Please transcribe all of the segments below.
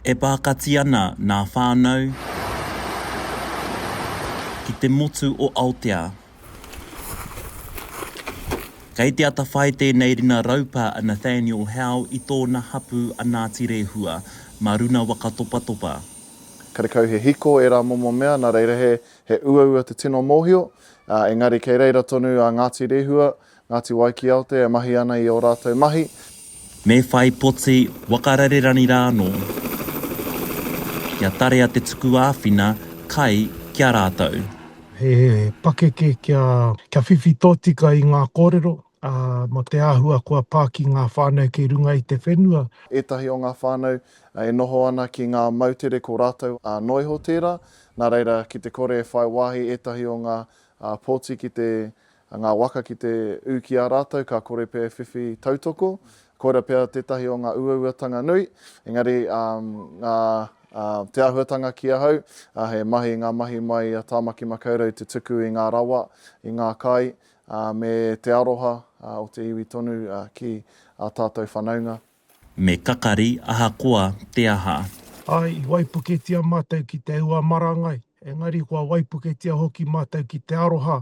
E pākati ana ngā whānau ki te motu o Aotea. Kei te atawhai tēnei ringa raupā a Nathaniel Howe i tōna hapū a Ngāti Rehua, mā Runa Waka Topatopa. Karekau he hiko ērā momo mea, nā reira he uaua te tino mōhio, engari kei reira tonu a Ngāti Rehua Ngāti Wai ki Aotea e mahi ana i ō rātou mahi. Me whai poti waka rarerani rā anō. Kia tarea te tuku āwhina kai ki a rātou. He pakeke kia whiwhi tōtika i ngā kōrero, ā, mō te āhua kua pā ki ngā whānau kei runga i te whenua. Ētahi o ngā whānau e noho ana ki ngā moutere ko rātou ā, noa iho tērā, nā reira ki te kore e whai wāhi ētahi o ngā pōti ki te a ngā waka ki te ū ki a rātou ka kore pea e whiwhi tautoko, koira pea tētahi o ngā uauatanga nui, engari ngā te āhuatanga ki ahau, he mahi ngā mahi mai a Tāmaki Makaurau te tuku i ngā rawa, i ngā kai, me te aroha o te iwi tonu ki ā tātou whanaunga. Me kakari ahakoa te aha. Āe, i waipuketia mātou ki te ua marangai, engari kua waipuketia hoki mātou ki te aroha,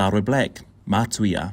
Taro Black, Mātui a.